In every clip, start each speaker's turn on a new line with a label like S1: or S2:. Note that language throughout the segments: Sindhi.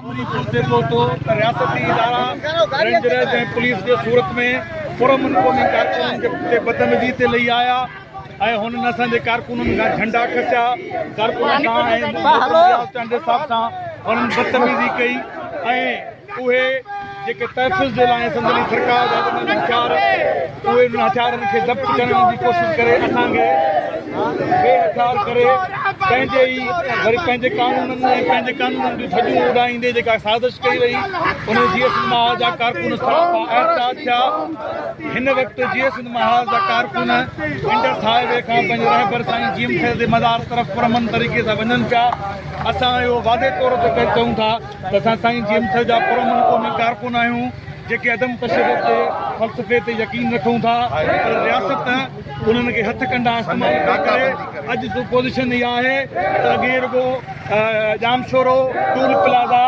S1: عملي پهچي پهتو ته رياستي ادارا رينجرز ۽ پوليس جي صورت ۾ پرامن قومي ڪارڪنن تي بدعملي تي لهي آيا ۽ هنن اسان جي ڪارڪنن کان جهنڊا کسيا، ڪارڪنن سان ۽ محترم رياض چانڊيو صاحب سان هنن بدتميزي ڪئي ۽ اهي. جيڪي تحفظ جي لاء سندن سرڪار جا ڏنل هٿيار اهي انهن هٿيارن کي ضبط ڪرڻ جي ڪوشش ڪري اسان کي بي هٿيار ڪري پنهنجي ئي وري پنهنجي قانونن ۽ پنهنجي قانونن جون ڌڄون اڏائيندي جيڪا سازش ڪئي وئي ان جي ايس مها جا ڪارڪن سراپا احتجاج ٿيا هن وقت جي ايس مها جا ڪارڪن انڊس هاء وي کان پنهنجي رهبر سائين جي ايم خير جي مزار طرف پرامن طريقي سان وڃن پيا اسان اهو واضح طور تي چئون ٿا ته اسان سائين جي ايم سي جا پرامن قومي ڪارڪن آهيون جيڪي عدم تشدد تي فلسفي تي يقين رکون ٿا پر رياست انهن کي هٿ ڪنڊا استعمال ٿي ڪري اڄ جو پوزيشن اها آهي ته اڳي رڳو ڄامشورو ٽول پلازا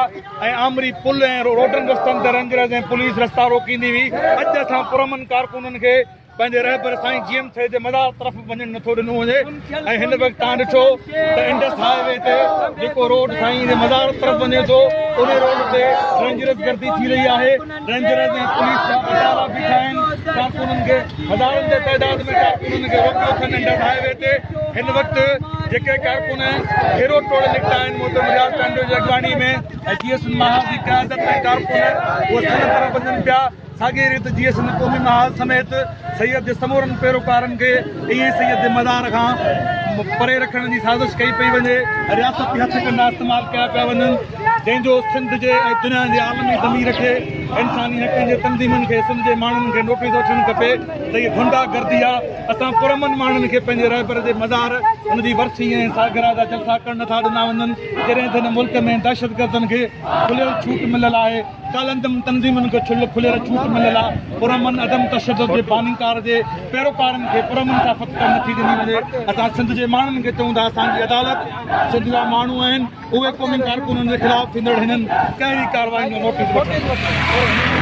S1: ۽ آمري پل ۽ روڊن رستن تي رينجرز ۽ پوليس رستا روڪيندي هئي اڄ اسان پرامن ڪارڪنن کي پنهنجي رهبر سائين جي ايم سيد جي مزار طرف وڃڻ نٿو ڏنو وڃي ۽ هن وقت تان ڏٺو ته انڊس هاء وي تي جيڪو روڊ سائين جي مزار طرف وڃي ٿو ان روڊ تي رينجرز گردي ٿي رهي آهي رينجرز ۽ پوليس جا ادارا بيٺا آهن ڪارڪنن کي هزارن جي تعداد ۾ ڪارڪنن کي روڪيو اٿن انڊس هاء وي تي هن وقت جيڪي ڪارڪن گهيرو ٽوڙي نڪتا آهن محترم رياض چانڊيو جي اڳواڻي ۾ جي ايس ماهر جي قيادت ۾ ڪارڪن اهي سنڌ طرف وڃن پيا ساڳيء ريت جيئي سنڌ قومي محاذ سميت سيد جي سمورن پيروڪارن کي ائين ئي سيد جي مزار کان پري رکڻ جي سازش ڪئي پئي وڃي ۽ رياستي هٿ ڪنڊا استعمال ڪيا پيا وڃن جنهن جو سنڌ جي ۽ دنيا جي عالمي ضمير کي انساني حقن جي تنظيمن کي سنڌ جي ماڻهن کي نوٽيس وٺڻ کپي ته هي گنڊا گردي آ اسان پرامن ماڻهن کي پنهنجي رهبر جي مزار ان جي ورسي ۽ سالگرهه جا جلسا ڪرڻ نٿا ڏنا وڃن جڏهن ته هن ملڪ ۾ دهشتگردن کي کليل ڇوٽ مليل آهي ڪالعدم تنظيمن کي ڇل کليل ڇوٽ مليل آ، پرامن عدم تشدد جي بانيڪار جي پيروڪارن کي پرامن ڪا فتڪ نه ٿي ڏني وڃي، اسان سنڌ جي ماڻهن کي چئون ٿا اسان جي عدالت سنڌ جا ماڻهو آهن، اهي قومي ڪارڪنن جي خلاف ٿيندڙ هنن ڪهري ڪارروائين جو نوٽيس وٺن.